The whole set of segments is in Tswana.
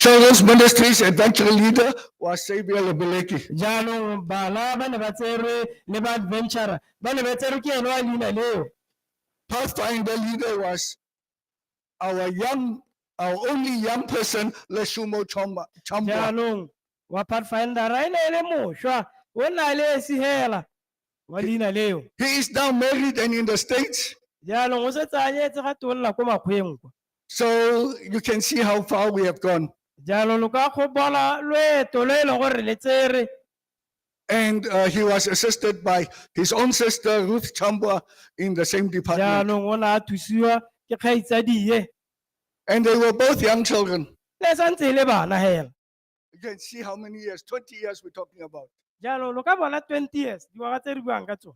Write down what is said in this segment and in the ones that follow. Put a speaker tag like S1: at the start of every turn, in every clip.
S1: Children's
S2: Ministries Adventure Leader wa Xavier Lebeleke. jaanong bana
S1: ba ne ba tserwe le ba adventure ba ne ba tserwe ke ene wa leina leo Pathfinder
S2: leader was our young, our only young person, Leshumo Chomba. Chomba. jaanong
S1: wa Pathfindera e ne e le mošwa o na le esihela wa leina leo He is now married
S2: and in the States. jaanong o setse
S1: a nyetse ga tonna ko makgweng kwa So you
S2: can see how far we have gone. jaanong lo ka go
S1: bona loeto lo e leng gore le tsere And
S2: uh, he was assisted by his own sister, Ruth Chambua, in the same department. jaanong o ne a thusiwa
S1: ke kgaitsadie And they
S2: were both young children. le santse e le
S1: bana hela You can see
S2: how many years, 20 years we're talking about. jalo lo ka bona
S1: 20 years dingwaga tse re buang ka tsone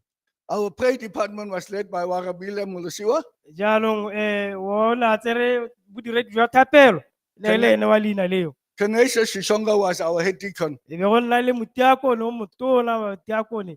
S1: Our prayer department
S2: was led by Warabile Mulusiwa. jaanong
S1: um o ne a tsere bodiredi jwa thapelo le Tene- le ene wa leina leo Tenacious Shishonga
S2: was our head deacon. e be go nna le
S1: motiakone o motona wa tiakone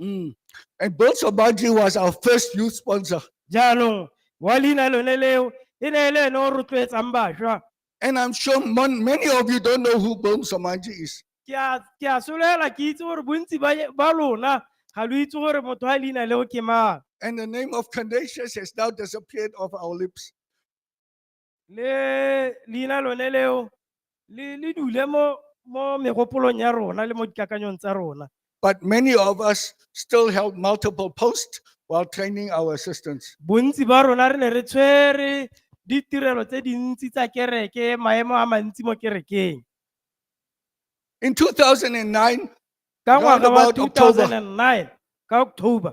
S2: Mm. And Bones of Bounty was our first youth sponsor. jaanong wa leina lone leo e ne e le ene o rotloetsang bašwa And I'm sure mon- many of you don't know who Boom Samanji is. ke a ke a solela ke itse gore bontsi ba ba lona ga lo itse gore motho wa leina leo ke mang And the name of Candacious has now disappeared off our lips. le leina lone leo le le dule mo mo megopolong ya rona le mo dikakanyong tsa rona But many of us still held multiple posts while training our assistants. bontsi ba rona
S1: re ne re tshwere ditirelo tse dintsi tsa kereke maemo a mantsi
S2: mo kerekeng In 2009, ka Round ngwaga wa about October. 2009 ka october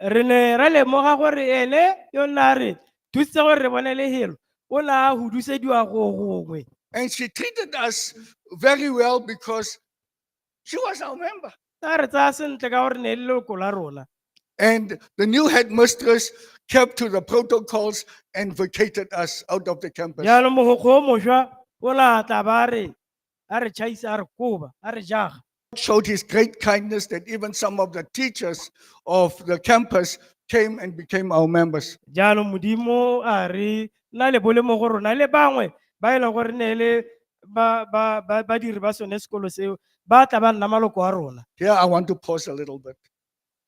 S2: Re ne ra lemoga gore ene yo nna a re thusitse gore re bone lehelo o ne a hudusediwa go gongwe. And she treated us very well because she was our member. A re tsaya sentle ka gore ne e le leloko la rona. And the new headmistress kept to the protocols and vacated us out of the campus. Jaanong mogokgo o mošwa o ne a tla ba re a re tšhaisa a re koba a re jaga showed his great kindness that even some of the teachers of the campus came and became our members. jaanong modimo
S1: a re na le bolemo go rona le bangwe ba e leng gore ne e le ba- ba- ba- badiri ba sone sekolo seo ba tla ba nna maloko a rona Here I want to pause
S2: a little bit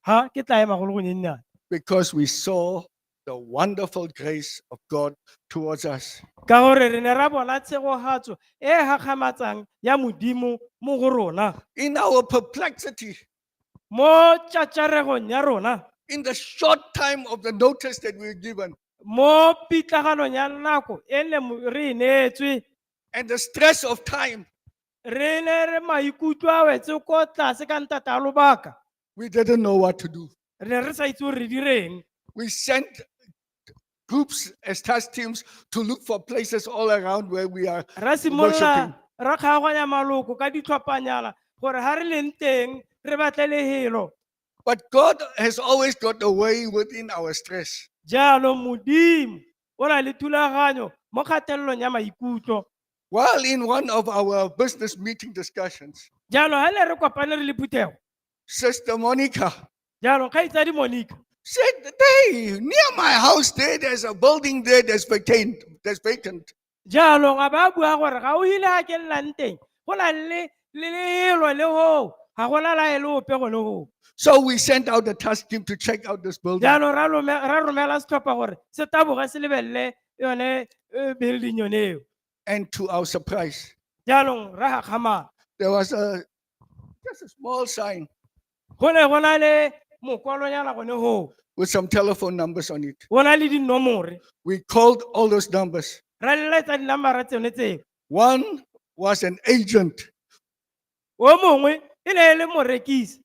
S2: ha ke tla
S1: ema go le gonyennyane because we
S2: saw the wonderful grace of God towards us. ka gore re ne ra
S1: bona tshegogatso e e gakgamatsang ya modimo mo go rona In our
S2: perplexity, mo
S1: tšatšaregong ya rona in the short
S2: time of the notice that we were given, mo
S1: pitlaganong ya nako e ne mo- re e neetswe and the stress
S2: of time, re ne
S1: re maikutlo a wetse ko tlase ka ntata a lobaka We didn't know
S2: what to do. re ne re sa itse gore re
S1: direng We sent
S2: groups as task teams to look for places all around where we are. ra Worshiping. simolola ra
S1: kgaoganya maloko ka ditlhophanyana gore ga re leng teng re batle lehelo But God
S2: has always got a way within our stress. jalo
S1: modimo o na le thulaganyo mo kgatelelong ya maikutlo While in
S2: one of our business meeting discussions, jalo ha ne re
S1: kopane re le phuthego Sister
S2: Monica jalo kgaitsadi
S1: monica said, Hey,
S2: near my house there, there's a building there that's vacant. That's vacant.
S1: jaanong a ba bua gore ga o ile a ke nnang teng go na le le lelwa le hoo ga gona lae le ope gone goo So we sent out
S2: the task team to check out this building. jaanong ra lome- ra
S1: romela setlhopha gore se taboge se lebelele yone eh, building yone eo And to our
S2: surprise, jaanong ra
S1: gakgamala there was a
S2: just a small sign go ne go
S1: na le mokwalonyana gone goo with some telephone
S2: numbers on it. go na le dinomore
S1: We called
S2: all those numbers. ra leletsa
S1: dinambara tsone tseo One
S2: was an agent,
S1: o mongwe e ne e le morekisi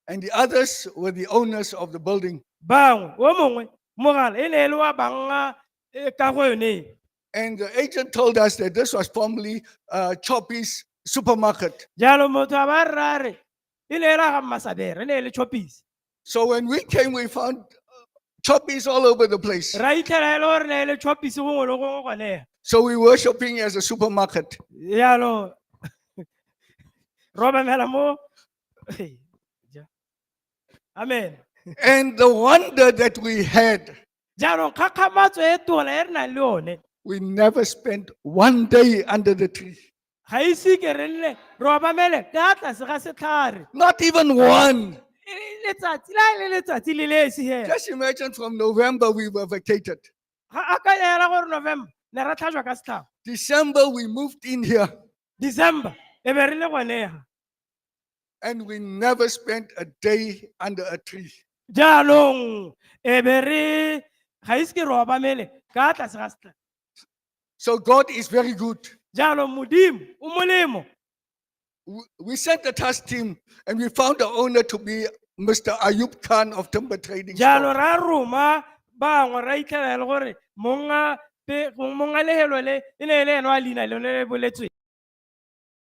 S1: and the
S2: others were the owners of the building. bangwe o mongwe
S1: mogala e ne e le wa banga e ka go yone e. And the agent
S2: told us that this was formerly uh, Choppy's supermarket. jalo motho a
S1: ba rare e ne e la ga mmasabere e ne e le chopisi So when we
S2: came, we found choppies all over the place. ra itlhela e le gore ne
S1: e le chopise gongwe le gongwe gone So we were shopping
S2: as a supermarket. yalo
S1: robamela mo Hey, ja. amen And the
S2: wonder that we had, jaanong
S1: kgakgamatso e tona e re nang le yone we never spent
S2: one day under the tree. ga ise ke
S1: re nne re obamele ka tlase ga setlhare Not even
S2: one. E le letsatsi
S1: la e le letsatsi le le esi hela Just imagine from
S2: November we were vacated. ga a ka
S1: ela gore november ne ra tlhajwa ka setlhabo December we
S2: moved in here december
S1: e be re le gonega and
S2: we never spent a day under a tree. jaanong
S1: e be re ga ise ke re obamele ka tlase ga setlhare So
S2: God is very good. jalo modimo
S1: o molemo
S2: We- We sent the task team and we found the owner to be Mr. Ayub Khan of Timber Trading. jalo Store. ra roma
S1: bangwe ra itlhela e le gore monga pe- monga lehelo le e ne e le ene wa leina lone le boletsweng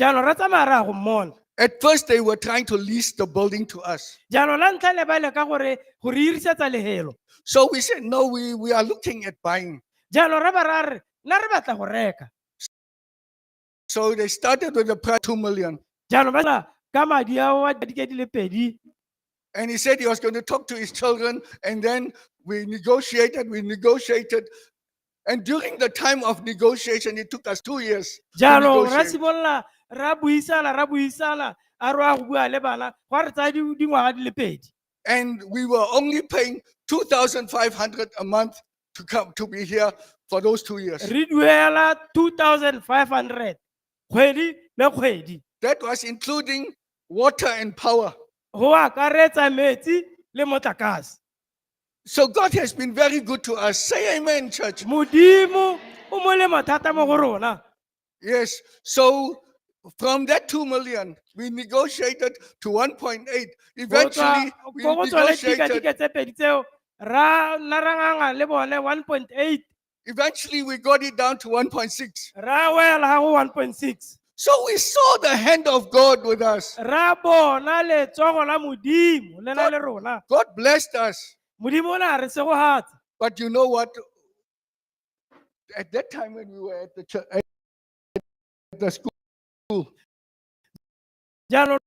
S2: jaanong ra tsamaya ra ya
S1: go mmona At first, they were
S2: trying to lease the building to us. jaanong la ntlha ne ba
S1: leka gore go re irisetsa lehelo So we said, no,
S2: we, we are looking at buying. jaanong ra ba ra
S1: re nna re batla go reka
S2: So they started with the price 2 million. jaanong ba tla
S1: ka madi ao a dike di le pedi And he
S2: said he was going to talk to his children. And then we negotiated, we negotiated. And during the time of negotiation, it took us two years. to jaanong ra negotiate. simolola
S1: ra buisana ra buisana a re wa go bua le bana gwa re tsaya di- dingwaga di le pedi And we were
S2: only paying 2,500 a month to come to be here for those two years. re duela 2500
S1: kgwedi le kgwedi That was including
S2: water and power. go akaretsa
S1: metsi le motlakase So
S2: God has been very good to us. Say amen, church. modimo
S1: o molemo
S2: thata
S1: mo go rona Yes. So
S2: from that 2 million, we negotiated to 1.8. Go tswa- Eventually,
S1: we ko
S2: go tsone negotiated.
S1: dikadike tse pedi tseo ra nna ra nganga le bone 1.8 Eventually, we
S2: got it down to 1.6. ra wela ha go 1.6
S1: So we saw
S2: the hand of God with us. ra bona
S1: letsogo la modimo le na le rona God blessed us.
S2: modimo o ne a re
S1: segogatsa But you know what?
S2: At that time when we were at the church, at the school,
S1: jaanong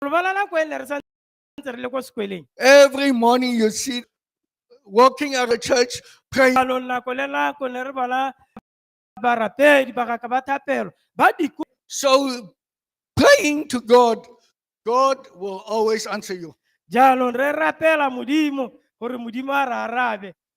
S1: lobala nako e ne re sa ntse re le ko sekweleng Every morning
S2: you see walking out of church, praying. alo nako le nako
S1: ne re bona barapedi bagaka ba thapelo ba diko So
S2: praying to God, God will always answer you. jaanong re
S1: rapela modimo gore modimo a re arabe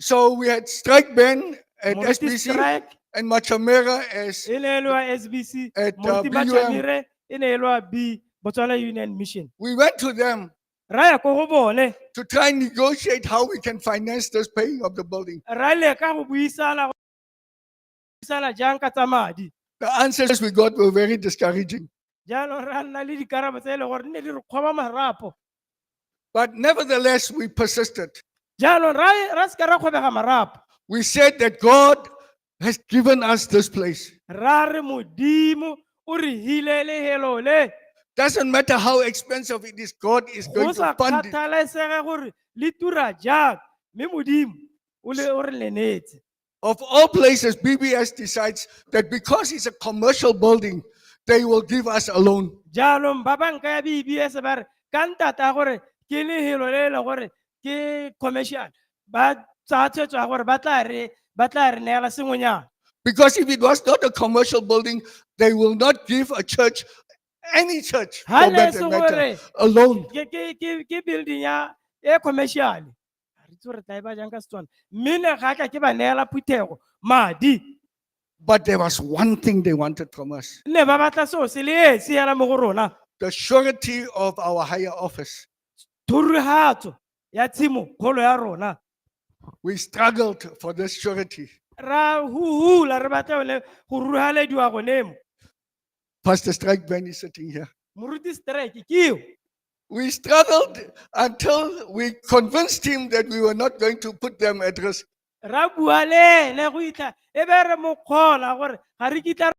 S1: So we
S2: had Strike Ben at Moruti SBC Strike
S1: and
S2: Machamera as e ne e le wa SBC,
S1: At, uh, Moruti BUM.
S2: Bachamire e ne e le
S1: wa B, Botswana Union Mission. we went to them
S2: Ra ya ko go
S1: bone, to try and
S2: negotiate how we can finance this paying of the building. ra leka go
S1: buisana dirisana jang ka tsa madi The answers we
S2: got were very discouraging. jaanong ra nna
S1: le dikarabo tse e leng gore nne di re kgoba marapo But
S2: nevertheless, we persisted. jaanong ra
S1: ra se ka ra kgobega marapo We said that
S2: God has given us this place. ra re
S1: modimo o re hile lehelo le Doesn't matter
S2: how expensive it is, God is go going sa to fund it. kgathalesege gore
S1: le tura jang mme modimo o le o re lenetse Of all
S2: places, BBS decides that because it's a commercial building, they will give us a loan. jaanong ba banka
S1: ya bbs ba re ka ntata ya gore ke lehelo le e le gore ke commercial ba tsaya tshwetso ya gore ba tla re ba tla re neela sengwenyana Because if it was
S2: not a commercial building, they will not give a church, any church, ha for ne e that se matter, gore
S1: a
S2: loan.
S1: ke-
S2: ke- ke- ke
S1: building ya e commercial a re itse gore tla e ba jang ka setswana mme ne ga ka ke ba neela phuthego madi But
S2: there was one thing they wanted from us ne ba batla seo se
S1: le esi hela mo go rona the surety
S2: of our higher office. thurugatso
S1: ya tshimo kgolo ya rona We
S2: struggled for this surety. ra
S1: huhula re batla yone go ruhalediwa gone mo Pastor
S2: Strike Ben is sitting here. Moruti strike
S1: kiyo. We
S2: struggled until we convinced him that we were not going to put them at risk. Ra bua le
S1: ene go itla e be re mo kgola gore ga re kitla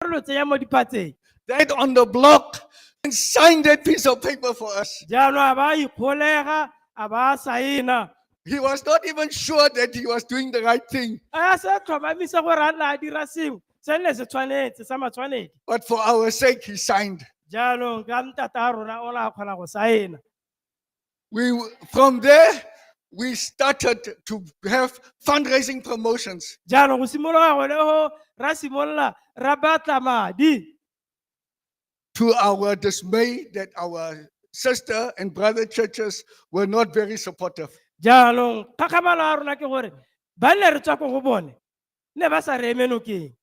S1: re lo tseya mo diphatseng. That on the
S2: block and signed that piece of paper for us. Jalo a ba
S1: ikgolega a ba saena. He was not
S2: even sure that he was doing the right thing. A se tlhomamisa
S1: gore a nna a dira sengwe. se ne se tshwanetse sa matshwanedi But for our sake,
S2: he signed. jaanong ka ntata
S1: a rona o la kgona go saena We, w-
S2: from there, we started to have fundraising promotions. jaanong go simolola
S1: gone go ra simolola ra batla madi
S2: To our dismay, that our sister and brother churches were not very supportive. jaanong
S1: kgakgamalo ya rona ke gore ba ne re tswa ko go bone ne ba sa re eme nokeng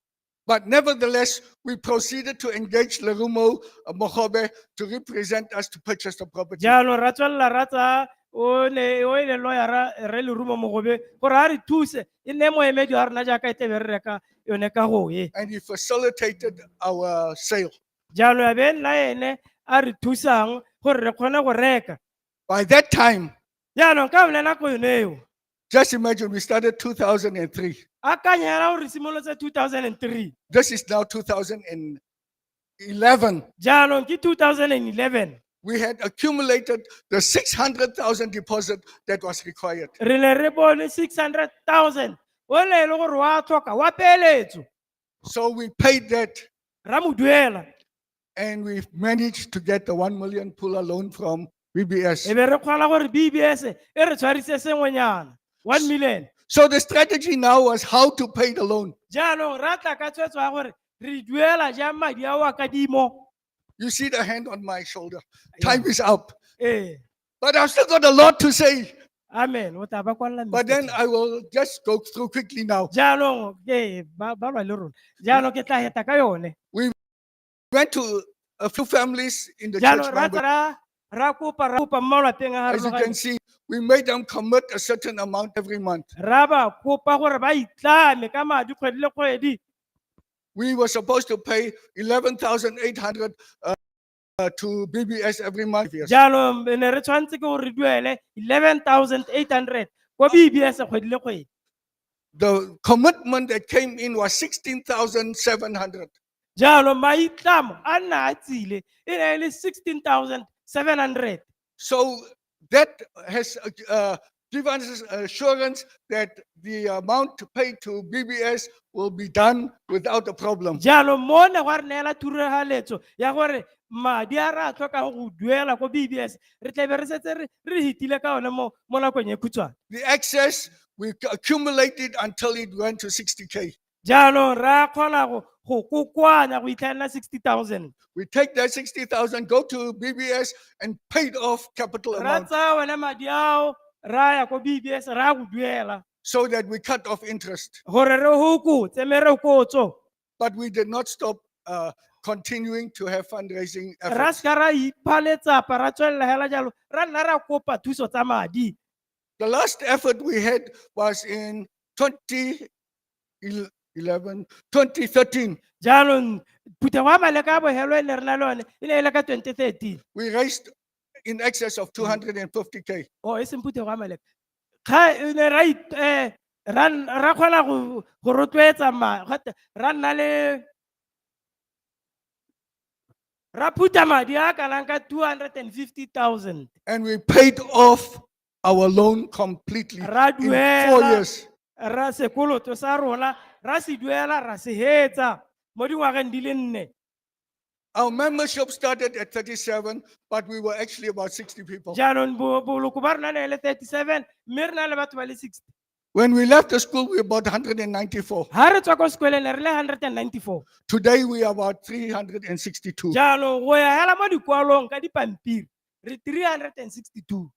S1: But
S2: nevertheless, we proceeded to engage Lerumo uh, Mogobe to represent us to purchase the property. jalo ra tswelela ra
S1: tsaya o ne o e le loyara re lerumo mogobe gore a re thuse e nne moemedi wa rona jaaka e tlebe re reka yone ka go e And he facilitated
S2: our sale. jalo ya be nna
S1: ene a re thusang gore re kgone go reka By that
S2: time, jaanong ka one
S1: nako yone eo Just imagine
S2: we started 2003. akanya hela gore
S1: re simolotse 2003 This is now
S2: 2011.
S1: jaanong ke 2011 We had
S2: accumulated the 600,000 deposit that was required. re ne re bone
S1: 600000 o ne e le gore wa tlhoka wa peeletso So we
S2: paid that ra mo duela
S1: and we
S2: managed to get the 1 million puller loan from e BBS. be re kgwala gore
S1: bbs e re tshwarise sengwenyana one million So the strategy
S2: now was how to pay the loan. jaanong ra tla ka
S1: tshwetso ya gore re duela jang madi a wa kadimo You see the
S2: hand on my shoulder. Time is up. Eh. But I've still got a lot to say.
S1: Amen. O tla ba kwalela But mefeto. then I will
S2: just go through quickly now. jaanong ke
S1: ba ba lwa le rona jaanong ke tla heta ka yone
S2: Went to a few families in the church. jaanong ra member. tsara
S1: ra
S2: kopa
S1: ra kopa mmalwa teng a As you can see, we
S2: made them commit a certain amount every month. ra ba kopa
S1: gore ba itlame ka madi kgwedi le kgwedi We
S2: were supposed to pay 11,800 uh, uh, to BBS every month. Yes. jaanong re ne re tshwanetse
S1: ke gore re duele 11800 ko bbs kgwedi le kgwedi The
S2: commitment that came in was 16,700. jalo
S1: maitlamo a nna a tsile e ne e le 16700 So
S2: that has uh, uh given us assurance that the amount to pay to BBS will be done without a problem. jalo mo ne gwa re
S1: neela thurahaletso ya gore madi a re a tlhokang go duela ko bbs re tlabe re setse re re hitile ka one mo mo nakong e khutshwane The excess,
S2: we accumulated until it went to 60K. Jaanong re a
S1: kgona go go kokoanya go itlhelela 60,000. We take that 60,000,
S2: go to BBS and pay it off capital Ra amount tsaya one
S1: madi
S2: ao
S1: ra ya ko BBS ra go duela so that we cut
S2: off interest. gore re hokotse
S1: merokotso. But we did
S2: not stop uh, continuing to have fundraising Ra efforts. seka ra
S1: ipha letsapa ra tswelela hela jalo ra nna ra kopa thuso tsa madi. The last
S2: effort we had was in 20, il- 11, 2013, jaanong
S1: phutego ya maleka a bogelo e ne re na le one e ne e le ka 2013 we raised
S2: in excess of 250K. o e seng phutego
S1: ya maleka ga e ne ra it- eh, ra n- ra kgona go go rotloetsa ma gate ra nna le ra phutha madi a kanang ka 250000 And we
S2: paid off our loan completely ra in four duela
S1: years. ra
S2: sekoloto
S1: sa rona ra se duela ra se hetsa mo dingwageng di le nne Our
S2: membership started at 37, but we were actually about 60 people. jaanong bo- boloko
S1: ba rona ne e le 37 mme re na le batho ba le 60 When we left the
S2: school, we were about 194. ha re tswa ko sekoleng
S1: ne re le 194 Today, we are about
S2: 362. jaanong go ya
S1: hela mo dikwalong ka dipampiri re 362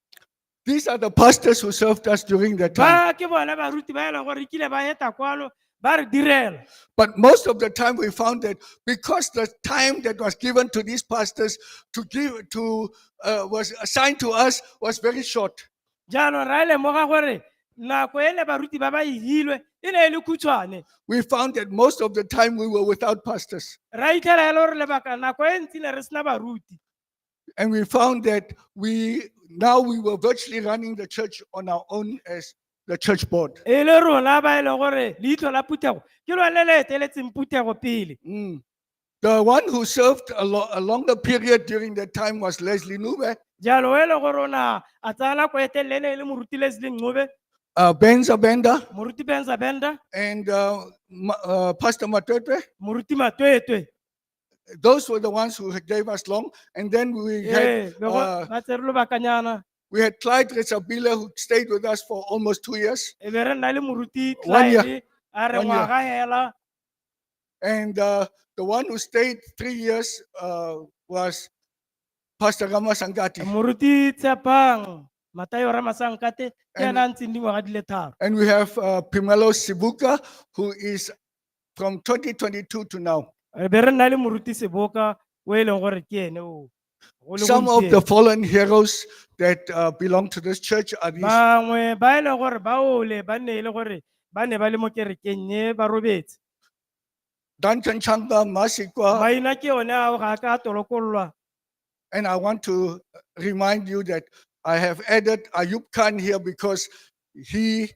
S1: These
S2: are the pastors who served us during that time. ba ke bone baruti ba
S1: e leng gore re kile ba eta kwalo ba re direla But most of the
S2: time, we found that because the time that was given to these pastors to give to uh, was assigned to us was very short. jaanong ra
S1: lemoga gore nako e ne baruti ba ba ihilwe e ne e le khutshwane We found that
S2: most of the time we were without pastors. ra itlhela e le gore
S1: lebaka nako e ntsi ne re sena baruti And we
S2: found that we now we were virtually running the church on our own as the church board. e le rona ba e
S1: leng gore leitlho la phuthego ke lone le eteletseng phuthego pele Mm. The
S2: one who served a, lo- a longer period during that time was Leslie Nube. jalo e le gore o
S1: na a tsaya nako e telele ne e le moruti leslie ncobe uh, Ben Zabenda
S2: moruti benza benda
S1: and uh,
S2: Ma- uh, Pastor Matwetwe. moruti matwetwe
S1: Those
S2: were the ones who had- gave us long. And then we had, ee be go- uh, ba tsere
S1: lobakanyana we had Clyde
S2: Retsabile who stayed with us for almost two years. e be re nna le moruti
S1: One year. Clyde,
S2: a re One year. ngwaga
S1: hela And
S2: uh, the one who stayed three years uh, was Pastor Rama Sangati. moruti
S1: tshepang matayo ramasankate ke And- ena a ntseng dingwaga di le tharo And we have uh,
S2: Pimelo Sibuka, who is from 2022 to now. re be re nna le
S1: moruti seboka o e leng gore ke ene o Some of the fallen
S2: heroes that uh, belong to this church are these. bangwe ba e leng gore
S1: ba ole ba nne e le gore ba ne ba le mo kerekeng e ba robetse
S2: Duncan Changa Masikwa. maina ke one ao
S1: ga a ka a tolokololwa And I
S2: want to remind you that I have added Ayub Khan here because he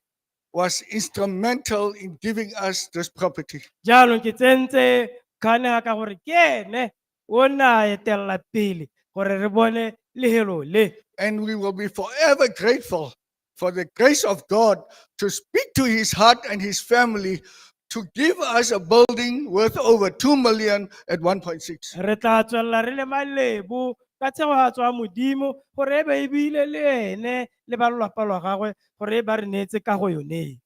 S2: was instrumental in giving us this property. jaanong ke tsentse
S1: kgane ga ka gore ke ene O ne a etelela pele gore re bone lehelo le. And we will be
S2: forever grateful for the grace of God to speak to his heart and his family to give us a building worth over 2 million at 1.6. Re tla tswelela
S1: re le malebo ka tshego ya tswa modimo gore e be e bile le ene le ba lelapa lwa gagwe gore e ba re neetse kago yone.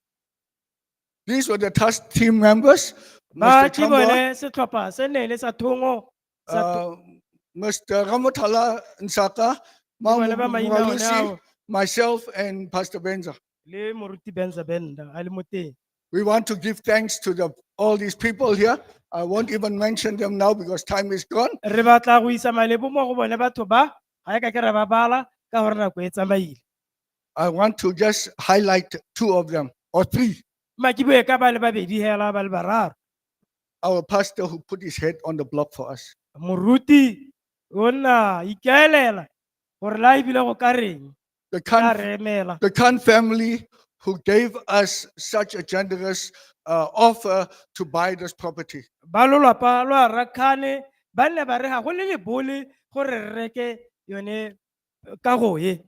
S2: These were the task team members. ba Mr. ke Tambo, bone
S1: setlhopha
S2: se
S1: ne le sa thongo sa
S2: uh, Mr.
S1: Ramotala Nsaka, Mama bone ba
S2: maina one Muralisi,
S1: ao
S2: myself and Pastor Benza. le moruti
S1: benza benda a le mo teng We want to give
S2: thanks to the, all these people here. I won't even mention them now because time is gone. re batla go isa
S1: malebo mo go bone batho ba ga e ka ke ra ba bala ka gore nako e tsamaile I want
S2: to just highlight two of them or three. ma ke bue ka ba
S1: le babedi hela ba le bararo Our
S2: pastor who put his head on the block for us. moruti
S1: o nna ikaelela gore la ebile go ka reng The a Khan, re
S2: emela
S1: the
S2: Khan
S1: family
S2: who gave us such a generous uh, offer to buy this property. ba lolapa
S1: lwa rakhane ba nne ba re ga go le lebole gore re reke yone eh, kago e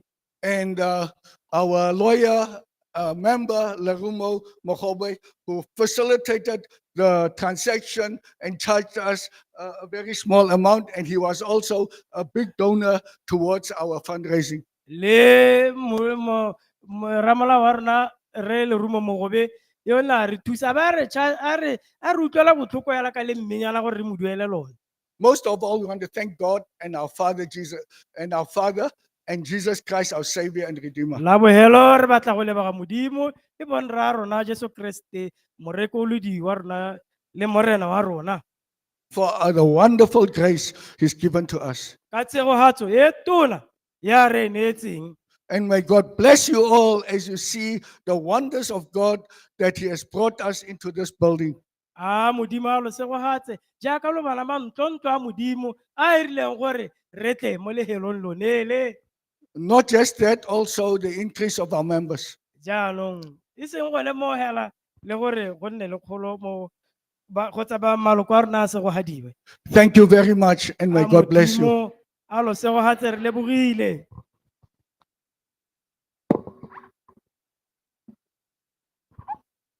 S1: and
S2: uh, our lawyer uh, member, Lerumo Mokobe, who facilitated the transaction and charged us uh, a very small amount. And he was also a big donor towards our fundraising. le
S1: mo- mo- mo- ramolao wa rona re lerumo mogobe yo na re thusa ba re cha- a re a re utlwela botlhoko yala ka le mmenyana gore re mo duele lone Most of all, we
S2: want to thank God and our Father Jesus and our Father and Jesus Christ, our Savior and Redeemer. la bohelo re
S1: batla go leboga modimo e bong rra rona jesu kriste morekolodi wa rona le morena wa rona for uh,
S2: the wonderful grace He's given to us. ka tshegogatso e
S1: tona ya re e neetseng And may God
S2: bless you all as you see the wonders of God that He has brought us into this building. a modimo
S1: a lo segogatse jaaka lo bana ba ntlontlo a modimo a erileng gore re tle mo lehelong lonele Not just
S2: that, also the increase of our members. jaanong
S1: e seng gone mo hela le gore go nne le kgolo mo ba- kgotsa ba maloko a rona a segogadiwe Thank you very
S2: much, and may A God bless you. Modimo a lo
S1: segogatse re lebogile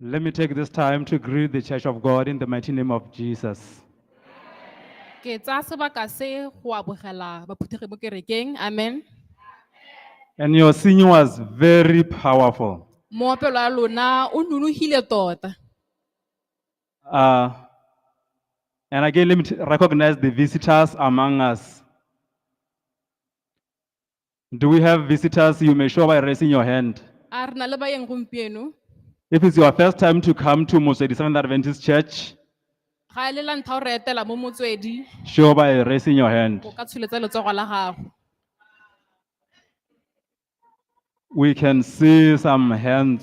S3: Let me take this time to greet the Church of God in the mighty name of Jesus.
S4: ke tsaya sebaka se go abogela baphuthegi mo kerekeng amen
S3: And your singing was very powerful. moopelo wa
S4: lona o nonogile tota Uh,
S3: and again, let me t- recognize the visitors among us. Do we have visitors? You may show by raising your hand. a re na le bayeng
S4: gompieno If it's your
S3: first time to come to Moswedi Seventh Adventist Church, ga e
S4: le la ntlha o re etela mo motswedi show by raising
S3: your hand. o ka tsholetsa letsogo la
S4: gago
S3: We can see some hands.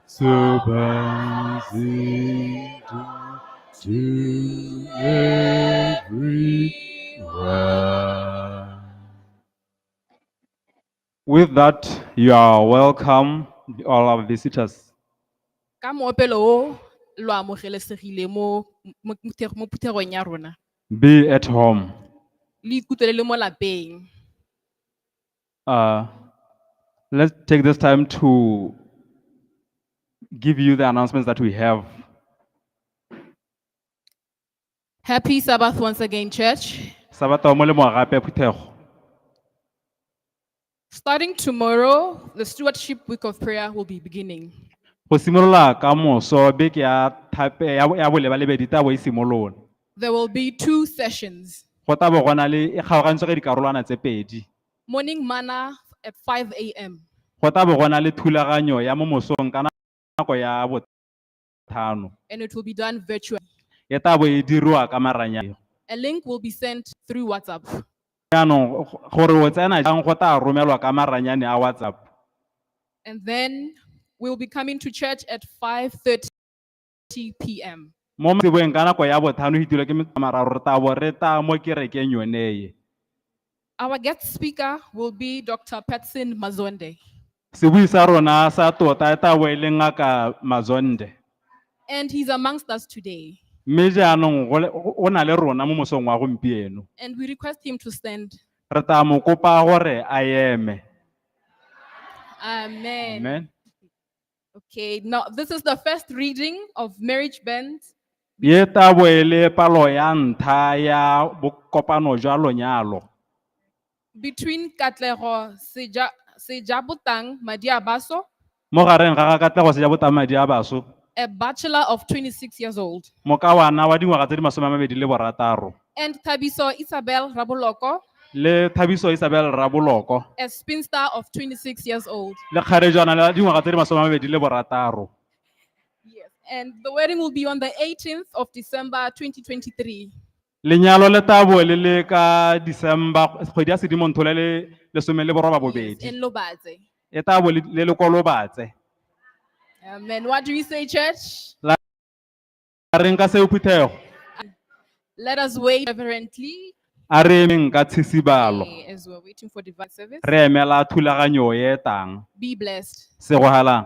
S3: With that, you are welcome, all our visitors. ka
S4: moopelo o lo amogelesegile mo mo- mo thekg- mo phuthegong ya rona Be at home.
S3: le ikutlwele
S4: le mo lapeng Uh,
S3: let's take this time to give you the announcements that we have.
S4: Happy Sabbath once again, church. Sabata wa molemo wa
S3: gape ya phuthego.
S4: Starting tomorrow, the Stewardship Week of Prayer will be beginning. Go simolola
S3: ka moso beke ya thape ya ya boleba lebedi tabo e simolola. There will be
S4: two sessions. Go tabo gona le
S3: e kgaogantswe ka dikarolwana tse pedi. Morning manna
S4: at 5 a.m. Go tla bo go na
S3: le thulaganyo ya mo mosong ka nako ya botlhano. And it will be done
S4: virtually. E tla bo e
S3: dirwa ka maranyane. A link will be
S4: sent through WhatsApp. Jaanong
S3: gore o tsena jang go tla romelwa ka maranyane a WhatsApp. And
S4: then we will be coming to church at 5:30. 8:30 p.m. Mo mantsiboeng
S3: ka nako ya bothano go itilwe ke metsamararo re tabo re ta mo kerekeng yoneye. Our
S4: guest speaker will be Dr. Patson Mazonde. Sebui sa
S3: rona sa tota e tabo e le ngaka Mazonde. And he's
S4: amongst us today. Mme jaanong
S3: go le- go- o na le rona mo mosong wa gompieno. And we request him
S4: to stand. Re tla mo kopa
S3: gore a eme. Amen.
S4: Amen.
S3: Okay,
S4: now this is the first reading of marriage band. Ye tabo
S3: e le palo ya ntlha ya bokopano jwa lonyalo.
S4: between Katlego Seja, Sejabutang Madiabaso, Mo gareng ga
S3: ga Katlego Seja Botamadi ya baso, a bachelor
S4: of 26 years old, mokawana wa dingwaga
S3: tse di masome a mabedi le borataro. And Thabiso
S4: Isabel Raboloko, le thabiso
S3: isabel raboloko a spinster
S4: of 26 years old. le kgarejana la
S3: dingwaga tse di masome a mabedi le borataro Yes.
S4: And the wedding will be on the 18th of December 2023. lenyalo
S3: le tabo le le ka december kgwedi ya sedimontho le le lesome le boroba Yes, bobedi in Lobaze.
S4: e tabo
S3: le le le kolobatse
S4: Amen. What do we say, church?
S3: A reng ka seo phuthego?
S4: Let us wait reverently A re emeng
S3: ka tshisibalo. eh, as we're waiting for
S4: divine service. Re emela thulaganyo
S3: e e tang. Be blessed.
S4: Segogalang.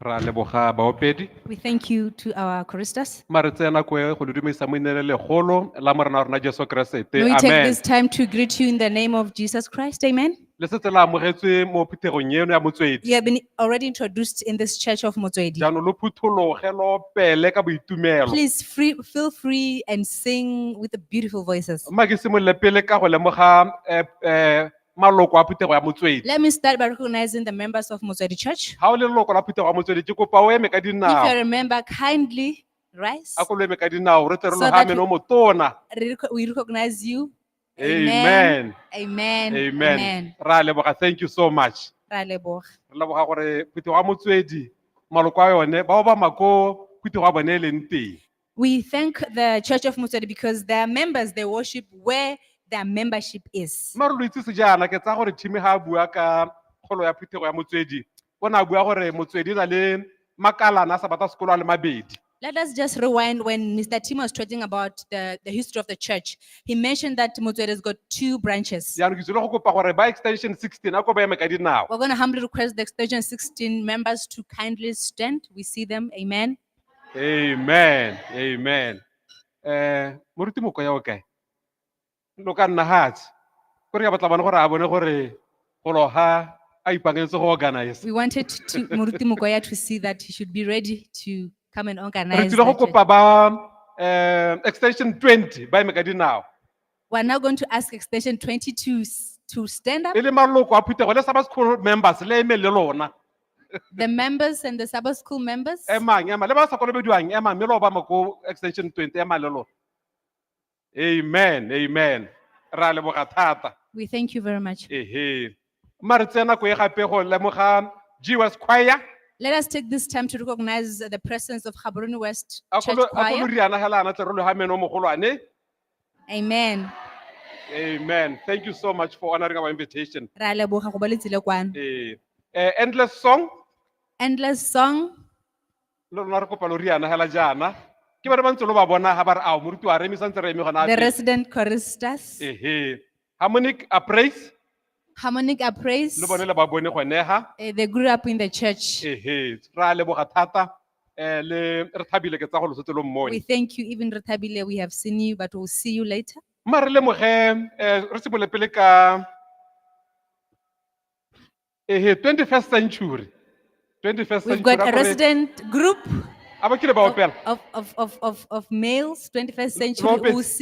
S5: ra leboga baopedi We thank you to
S6: our choristers. ma re tseye nako e go
S5: le dumedisa mo inele legolo la morena wa rona jesu keresete May we take amen this time
S6: to greet
S5: you
S6: in the name of Jesus Christ. Amen. le setse la amogetswe
S5: mo phuthegong eno ya motswedi You have been already
S6: introduced in this church of Motswedi. jaanong lo phuthologe
S5: lo pele ka boitumelo Please free, feel
S6: free and sing with the beautiful voices. mma ke simolole pele
S5: ka go lemoga eh, eh, maloko a phuthego ya motswedi Let me start by recognizing
S6: the members of Motswedi Church. ga o le leloko la phuthego ya
S5: motswedi ke kopa o eme ka If you dinao remember, kindly
S6: rise. a ko lo eme ka dinao
S5: re tle re So that logamene we- o motona Re reco- We recognize
S6: you. amen
S5: Amen.
S6: amen re
S5: a leboga thank you so much Ra leboga. re
S6: leboga gore
S5: phuthego ya motswedi maloko a yone bao ba mako phuthego ya bone e leng teng We thank
S6: the Church of Motswedi because their members, they worship where their membership is. mare lo itsese jaana
S5: ke tsaya gore thimi ga a bua ka kgolo ya phuthego ya motswedi o ne a bua gore motswedi o na le makalana a sa bata sekolo a le mabedi Let us just
S6: rewind when Mr. Tim was talking about the, the history of the church. He mentioned that Motswedi has got two branches. jaanong ke tsile go kopa gore
S5: ba extension sixteen a ko ba eme ka dinao We're going to humbly request the
S6: extension 16 members to kindly stand. We see them. Amen. amen
S5: amen eh moruti moko ya o kae lo ka nna hatsi gore ka batla bana gore a bone gore go loga a ipaakanyetse go organize We wanted to,
S6: Muruti Mukoya to see that he should be ready to come and re organize. tsile go that,
S5: uh, kopa
S6: ba
S5: eh, extension 20 ba eme ka dinao We're now going
S6: to ask extension 22 s- to stand up. e le maloko a phuthego
S5: le sabas school members le eme le lona The
S6: members and the Sabbath school members. emang ema le ba sa
S5: kolobediwang ema mme le obama ko extension 20 ema le lona amen amen re a leboga thata We thank you very much.
S6: ehe mma
S5: re tseye nako e gape go lemoga jesus choir Let us take this
S6: time to recognize the presence of Gaborone West a Church kolo- a Choir. koloriana
S5: hela ana
S6: tle re lo
S5: ga meno mogolwane Amen. Amen. Thank you so much for honoring our invitation. Re a leboga go ba le
S6: tsile kwano. Eh, eh, endless
S5: song. Endless
S6: song. Lo lona
S5: re kopa lo riana hela jaana. Ke ba re ba ntse lo ba bona ha ba re ao moruti wa re eme sa ntse re eme gona. The resident
S6: choristers. Ehe.
S5: Harmonic Appraise, Harmonic
S6: Appraise. le bone le ba bone gone
S5: ha. eh, they grew up in the
S6: church. Ehe, ra leboga
S5: thata. Eh, le re thabile ke tsa go losotse lo We mmone. thank you, even
S6: Retabile, we have seen you, but we'll see you later. Ma re lemoge,
S5: eh, re simole pele ka ehe, 21st century. 21st We've century. got a gore- resident
S6: group
S5: a ba
S6: kile ba of, opela.
S5: of, of, of,
S6: of,
S5: of males,
S6: 21st Lo- lo century,
S5: opetse. we'll see